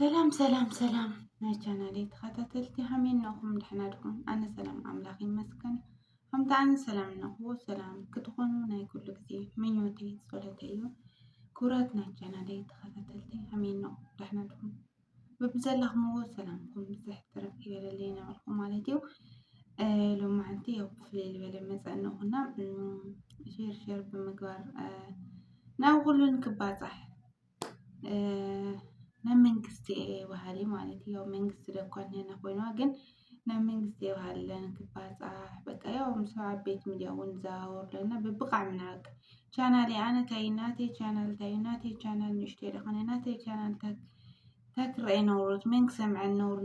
ሰላም ሰላም ሰላም ናይ ቻናሌ ተኸታተልቲ ሃመይ እነኹም ደሕና ድኹም? ኣነ ሰላም ኣምላኽ ይመስገን። ከምቲ ኣነ ሰላም እነኹ ሰላም ክትኾኑ ናይ ኩሉ ግዜ ምኞቴ ጸሎተ እዩ። ክቡራት ናይ ቻናሌ ተኸታተልቲ ሃመይ እነኹም ደሕና ድኹም? በብዘላኽምዎ ሰላምኩም ብዝሕ ትረፍ ይበለለይ ነበርኩ ማለት እዩ። ሎማዓንቲ ያው ብፍለይ ዝበለ መፀእነኹና ሼር ሼር ብምግባር ናብ ኩሉን ክባፃሕ ናይ መንግስቲ እየ በሃሊ ማለት እዩ። ያው መንግስቲ ደኳ እንሄና ኮይና ግን ናይ መንግስቲ እየ በሃሊ ለነ ክባፃሕ በቃ ያው ምስ ዓበይቲ ሚድያ እውን ንዘዋወር ለና ብብቓዕ ምናምን ቻናል እየ ኣነ ታይ ናተይ ቻናል ታይ ናተይ ቻናል ንእሽተይ ደኾነ ናተይ ቻናል ታይ ታክረኤ ነውሮት መን ክሰምዐን ነውር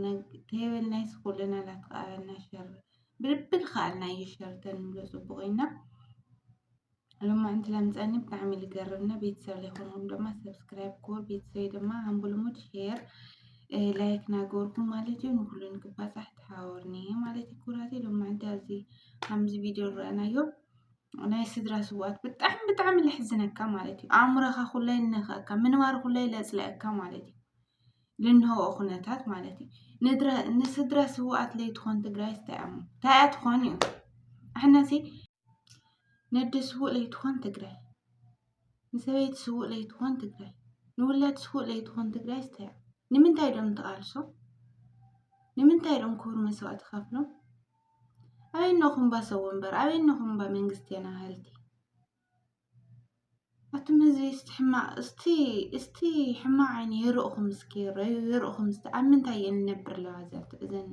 ተይበል ናይ ስኹልና ላትቃረና ሸር ብልብል ኸኣልና እዩ ሸር ተንብሎ ፅቡቕ ኢና ሎማዕንቲ ለምፀኒ ብጣዕሚ ልገርም ና ቤተሰብ ለይኮንኩም ድማ ሰብስክራይብ ክወር ቤተሰብ ድማ ኣንቡ ልሙድ ሼር ላይክ ናገርኩም ማለት እዩ ንኩሉ ንክባፃሕ ተሓወርኒ ማለት እዩ ኩራቴ ሎማዕንቲ ኣዚ ከምዚ ቪድዮ ንረአናዮ ናይ ስድራ ስዋኣት ብጣዕሚ ብጣዕሚ ለሕዝነካ ማለት እዩ ኣእምሮኻ ኩላይ ነኸእካ ምንባር ኩላይ ለፅለአካ ማለት እዩ ልንሆ ኩነታት ማለት እዩ ንስድራ ስዋኣት ለይትኾን ትግራይ ስታይኣሞ ታይኣ ትኾን እዩ ኣሕናሲ ነደ ስውእ ለይትኾን ትግራይ ንሰበይቲ ስውእ ለይትኾን ትግራይ ንውላድ ስውእ ለይትኾን ትግራይ ስተያ ንምንታይ ዶም ተቓልሶ ንምንታይ ዶም ክብሩ መስዋእቲ ከፍሎም ኣበይ ነኹም ባ ሰው ወንበር ኣበይ ነኹም ባ መንግስቴና ሃልቲ ኣቱም ህዝቢ እስቲ ሕማቕ እስቲ እስቲ ሕማቕ ዓይኒ ይርእኹም እስኪ ይረዩ ይርእኹም እስቲ ኣብ ምንታይ እየን እነብር ኣለዋ እዘን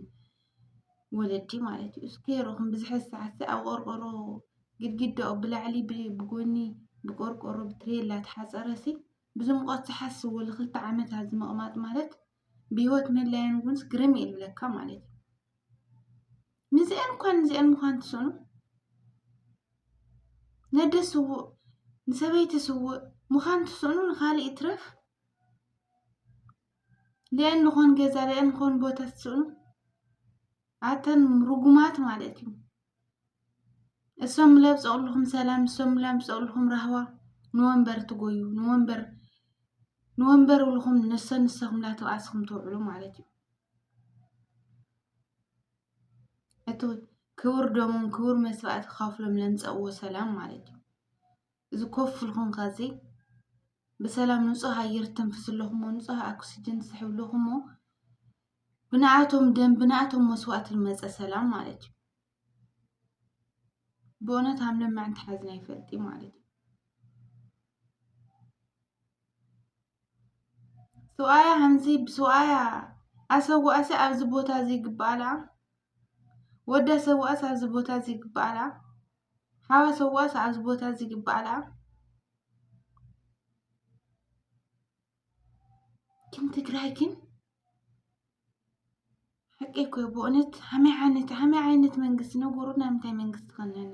ወለዲ ማለት እዩ እስኪ ይርእኹም ብዝሐ ሰዓት ኣብ ቆርቆሮ ግድግዳኡ ብላዕሊ ብጎኒ ብቆርቆሮ ብትሬላ ተሓፀረሲ ብዙ ሙቐት ዝሓስዎ ንክልተ ዓመት ኣብዚ ምቕማጥ ማለት ብሂወት ምህላየን እውንስ ግርም እዩ ዝብለካ ማለት እዩ ንዚአን እኳ ንዚአን ምዃን ትስእኑ ነደ ስውእ ንሰበይቲ ስውእ ምዃን ትስእኑ ንኻሊእ ይትረፍ ሊአን ዝኾን ገዛ ሊአን ዝኾን ቦታ ትስእኑ ኣተን ርጉማት ማለት እዩ እሶም ምለ ብፀቕልኹም ሰላም እሶም ምለ ብፀቕልኹም ራህዋ ንወንበር ትጎዩ ንወንበር ንወንበር ውልኹም ንሰ ንሰኹምላ ተባእስኹም ትውዕሉ ማለት እዩ እቲ ክቡር ደሞም ክቡር መስዋእቲ ከፍሎም ለምፀእዎ ሰላም ማለት እዩ እዚ ኮፍ ኢልኩም ካዚ ብሰላም ንፁህ ኣየር ትተንፍሱ ኣለኹሞ ንፁህ ኣክስጅን ትስሕቡ ኣለኹሞ ብንኣቶም ደም ብንኣቶም መስዋእቲ ዝመፀ ሰላም ማለት እዩ። ብእውነት ሃም ለማዕንቲ ሓዝና ይፈልጥ ማለት እዩ። ሰብኣያ ሓንሲ ብሰብኣያ ኣሰዋእሲ ኣብዚ ቦታ እዚ ይግብኣላ ወዳ ሰዋእሲ ኣብዚ ቦታ እዚ ይግብኣላ ሓዋ ሰዋእሲ ኣብዚ ቦታ እዚ ይግብኣላ ግን ትግራይ ግን ሓቂ እኮ እዩ ብእውነት ከመይ ዓይነት ከመይ ዓይነት መንግስቲ ንገሩና እንታይ ዓይነት መንግስቲ ትኾን እላ?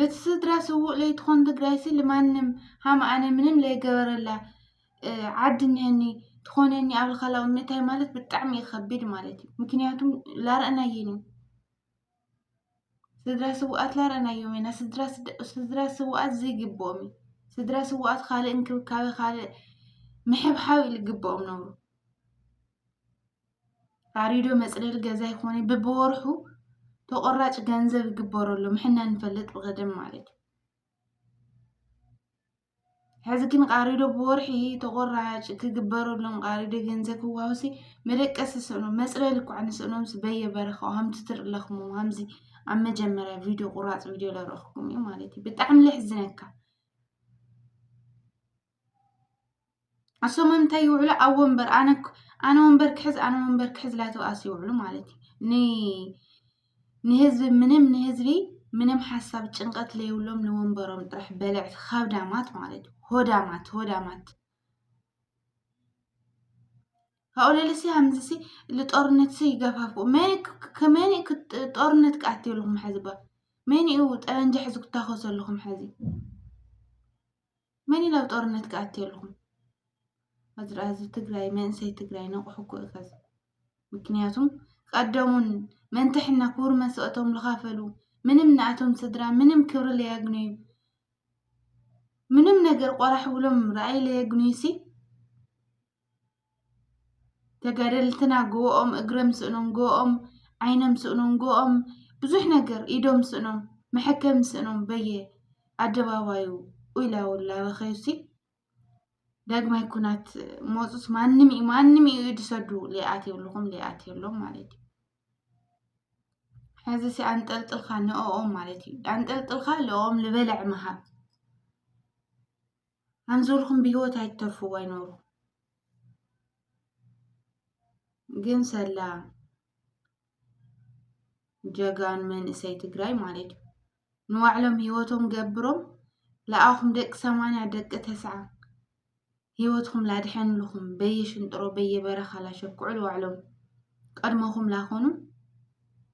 ለትስድራ ስውእ ለይትኾን ትግራይሲ ልማንም ሃም ኣነ ምንም ለይገበረላ ዓዲ እኒሀኒ ትኾነኒ ኣብ ልኻላዊ እምነታይ ማለት ብጣዕሚ ይኸቢድ ማለት እዩ። ምክንያቱም ላረእናየን እዩ ስድራ ስውኣት ላረእናዮም ኢና ስድራ ስውኣት ዘይግብኦም እዩ። ስድራ ስውኣት ካልእ እንክብካቤ ካልእ ምሕብሓብ ልግብኦም ነብሩ። ኣሪዶ መፅለሊ ገዛ ይኾነ ብብወርሑ ተቆራጭ ገንዘብ ይግበረሉ ምሕና ንፈልጥ ብቀደም ማለት እዩ ሕዚ ግን ቃሪዶ ብወርሒ ተቆራጭ ክግበረሎም ቃሪዶ ገንዘብ ክዋውሲ መደቀሲ ስእኖ መፅለሊ እኳ ንስእኖም ስበየ በረኻው ሃምቲ ትርለኽሙ ሃምዚ ኣብ መጀመርያ ቪድዮ ቁራፅ ቪድዮ ለረኽኩም እዩ ማለት እዩ ብጣዕሚ ለሕዝነካ ኣሶም እንታይ ይውዕሉ ኣብ ወንበር ኣነ ኣነ ወንበር ክሕዝ ኣነ ወንበር ክሕዝ ላተውኣስ ይውዕሉ ማለት እዩ ንህዝቢ ምንም ንህዝቢ ምንም ሓሳብ ጭንቀት ለይብሎም ንወንበሮም ጥራሕ በልዕቲ ካብዳማት ማለት እዩ ሆዳማት ሆዳማት ካብኡ ለልሲ ሃምዝሲ ልጦርነት ሲ ይገፋፉ መን ጦርነት ክኣትየልኩም ሕዚ ባ መን እዩ ጠበንጃ ሕዚ ክታኸሰልኹም ሕዚ መን እዩ ናብ ጦርነት ክኣትየልኩም ኣዝራ ህዝቢ ትግራይ መንእሰይ ትግራይ ነቑሑ እኮ እዩ ከዚ ምክንያቱም ቀደሙን መንትሕና ክቡር መስዋእቶም ዝኸፈሉ ምንም ንኣቶም ስድራ ምንም ክብሪ ለየግንዩ ምንም ነገር ቆራሕ ብሎም ራእይ ለየግንዩ ሲ ተጋደልትና ግብኦም እግረም ስእኖም ግብኦም ዓይነም ስእኖም ግብኦም ብዙሕ ነገር ኢዶም ስእኖም መሐከም ስእኖም በየ ኣደባባዩ ኡይላውላ በኸዩሲ ዳግማይ ኩናት ሞፁስ ማንም እዩ ማንም እዩ ድሰዱ ሊኣት የብልኹም ሊኣት የሎም ማለት እዩ ሕዚ ሲ ኣንጠልጥልካ ንኦም ማለት እዩ ኣንጠልጥልካ ልኦም ልበልዕ ምሃብ ኣንዞልኩም ብሂወት ኣይትተርፉ ዋይ ኖሩ ግን ሰላ ጀጋን መንእሰይ ትግራይ ማለት እዩ ንባዕሎም ሂወቶም ገብሮም ለኣኹም ደቂ ሰማንያ ደቂ ተስዓ ሂወትኩም ላድሐንልኹም በየሽንጥሮ በየበረኻ ላሸኩዑ ንባዕሎም ቀድሞኹም ላኾኑ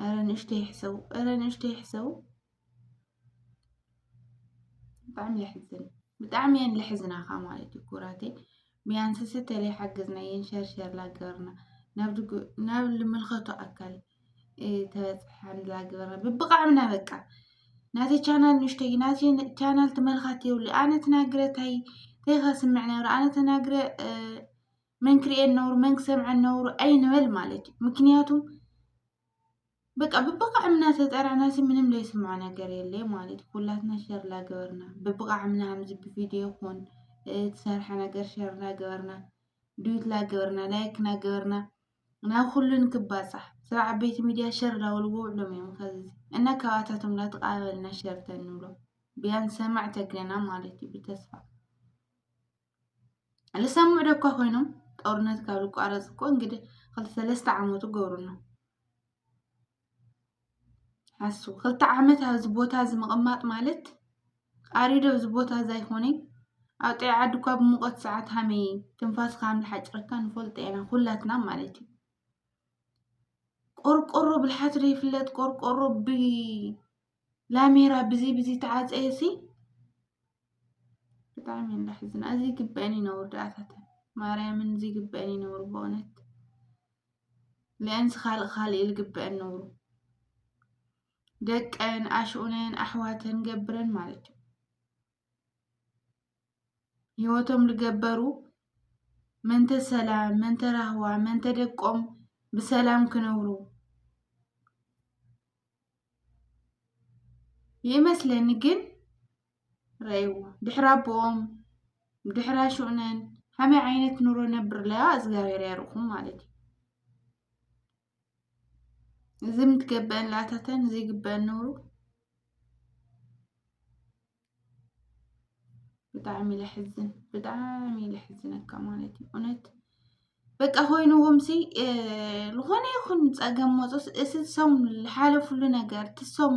ኧረ ንእሽተይ ይሕሰቡ፣ ኧረ ንእሽተይ ይሕሰቡ። ብጣዕሚ የሕዝን፣ ብጣዕሚ እየን ልሕዝናኻ ማለት እዩ ኩራተይ። ቢያንስ ስተለ ሓገዝና እየን ሸርሸር ላገበርና ናብ ልምልከቶ ኣካል ተበፅሐን ላገበርና ብብቃዕምና በቃ ናተይ ቻናል ንእሽተይ እዩ፣ ናተይ ቻናል ተመልካቲ የብሉ። ኣነ ተናግረ ታይ ታይ ከስምዕ ነብረ ኣነ ተናግረ መን ክርእየን ነውሩ መን ክሰምዐን ነውሩ ኣይንበል ማለት እዩ። ምክንያቱም በቃ ብብቃዕምና ተጠራና ሲ ምንም ለይስምዖ ነገር የለ ማለት ኩላትና ሸር ላገበርና ብብቃዕምና ከምዚ ብቪድዮ ይኹን ትሰርሐ ነገር ሸር ላገበርና ዱት ላገበርና ላይክ ናገበርና ናብ ኩሉን ክባፃሕ ስራ ዓበይቲ ሚድያ ሸር ላውልዎ ውዕሎም እዮም ከዚ እና ካባታቶም ላተቃበልና ሸር ተንብሎ ቢያን ሰማዕ ተግለና ማለት እዩ ብተስፋ ልሰምዑ ዶ እኳ ኮይኖም ጦርነት ካብ ዝቋረፅ እኮ እንግዲህ ክልተ ሰለስተ ዓመቱ ገብሩ ኣሎ ሓሱ ክልተ ዓመት ኣብዚ ቦታ እዚ ምቕማጥ ማለት ኣሪዶ ኣብዚ ቦታ እዚ ኣይኮነይ ኣብ ጥዕ ዓዲ እኳ ብሙቐት ሰዓት ሃመይ ትንፋስ ከም ዝሓጭረካ ንፈልጦ ኢና ኩላትና ማለት እዩ ቆርቆሮ ብልሓት ዘይፍለጥ ቆርቆሮ ብ ላሜራ ብዚ ብዚ ተዓፀየ ሲ ብጣዕሚ እየን ዘሕዝና እዚ ይግበአን እዩ ነውር ደኣታተን ማርያምን እዚ ይግበአን እዩ ነውር በእውነት ልአንስ ካልእ ካልእ እዩ ዝግበአን ነውሩ ደቀን ኣሽኡነን ኣሕዋተን ገብረን ማለት እዩ ህይወቶም ዝገበሩ ምእንተ ሰላም፣ ምእንተ ራህዋ፣ ምእንተ ደቆም ብሰላም ክነብሩ ይመስለኒ ግን ረእይዎ ድሕሪ ኣቦኦም ድሕሪ ኣሹኡነን ከመይ ዓይነት ኑሮ ነብርለያ እግዚኣብሔር ያርኩም ማለት እዩ። እዚ ምትገበን ላተተን እዚ ግበን ንብሩ ብጣዕሚ ለሕዝን ብጣዕሚ ለሕዝነካ ማለት እዩ እውነት በቃ ኮይኑዎም ሲ ዝኾነ ይኹን ፀገም መፆስ እቲ ሶም ዝሓለፍሉ ነገር እቲ ሶም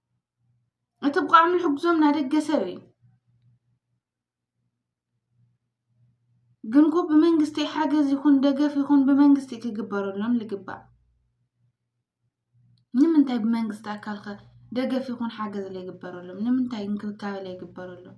እቲ ብቋዕሚ ሕግዞም ናደገ ሰብ እዩ ግንኩ ብመንግስቲ ሓገዝ ይኹን ደገፍ ይኹን ብመንግስቲ ክግበረሎም ልግባእ ንምንታይ ብመንግስቲ ኣካልከ ደገፍ ይኹን ሓገዝ ለይግበረሎም ንምንታይ እንክብካበ ለይግበረሎም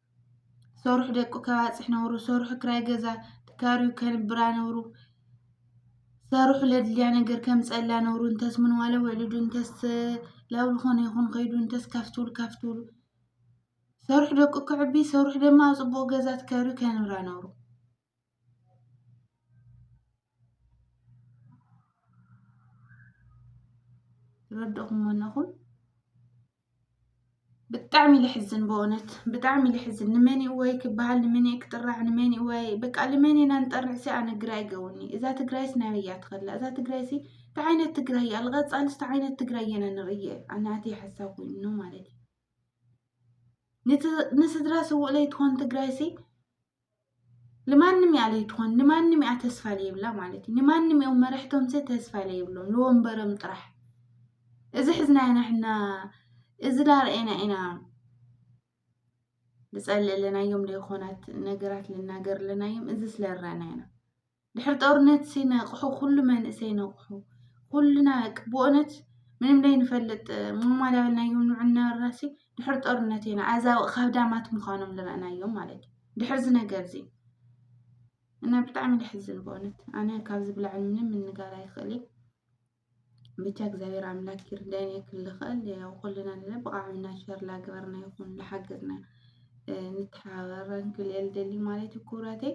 ዝሰርሑ ደቁ ከባፅሕ ነብሩ ዝሰርሑ ክራይ ገዛ ተካርዩ ከንብራ ነብሩ ዝሰርሑ ለድልያ ነገር ከምፀላ ነብሩ እንተስ ምንዋለ ውዕሉዱ እንተስ ላብ ልኾነ ይኹን ከይዱ እንተስ ካፍትሉ ካፍትሉ ዝሰርሑ ደቁ ክዕቢ ዝሰርሑ ደማ ኣብ ፅቡቕ ገዛ ተካርዩ ከንብራ ነብሩ። ትረድእኹም ኣለኹም ብጣዕሚ ልሕዝን ብእውነት ብጣዕሚ ልሕዝን ንመን እወይ ክበሃል ንመን እየ ክጥራሕ ንመን እወይ በቃ ልመን ኢና ንጠርዕ ሲ ኣነ ግራ ይገውኒ እዛ ትግራይስ ናይ እያ ትኸላ እዛ ትግራይ ሲ እንታይ ዓይነት ትግራይ እያ ልቐፃልስ እንታይ ዓይነት ትግራይ እየና ንርእየ ኣናቲ ሓሳብ ኮይኑ ማለት እዩ ንስድራ ስውእ ለይትኾን ትግራይ ሲ ንማንም እያ ዘይትኾን ንማንም እያ ተስፋ ዘይብላ ማለት እዩ ንማንም እዮም መራሕቶም ዘ ተስፋ ዘይብሎም ንወንበሮም ጥራሕ እዚ ሕዝናዮ ናሕና እዚ ዳርኤና ኢና ንፀልእ ኣለናዮም ዘይኮናት ነገራት ልናገር ኣለናዮም እዚ ስለረና ኢና ድሕሪ ጦርነት ሲነቕሑ ኩሉ መንእሰይ ነቕሑ ኩልና ብእውነት ምንም ዘይንፈልጥ ሙማል ኣበልናዮም ንዑናራሲ ድሕሪ ጦርነት ኢና ኣዛ ካብዳማት ምዃኖም ዝረእናዮም ማለት እዩ ድሕሪ እዚ ነገር እዚ እና ብጣዕሚ ደሕዝን በእውነት ኣነ ካብዚ ብላዕሊ ምንም ምንጋር ኣይኽእል እዩ ብቻ እግዚኣብሔር ኣምላክ ይርዳይና ክል ኸእል ያው ኩልና ንለ ብቃዕምና ሸር ላገበርና ይኹን ላሓገዝና ንተሓባበር ክል እየ ልደሊ ማለት እዩ ክብራተይ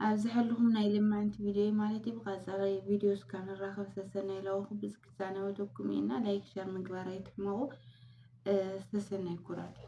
ኣብዚ ሕልኹም ናይ ልምዕንቲ ቪድዮ ማለት እዩ ብቀፃለ ቪድዮ እስካብ ንራኸብ ሰሰናይ ለዋኹ ብዝክ ዛነወተኩም እና ላይክ ሸር ምግባር ኣይትሕመቑ ሰሰናይ ኩራተይ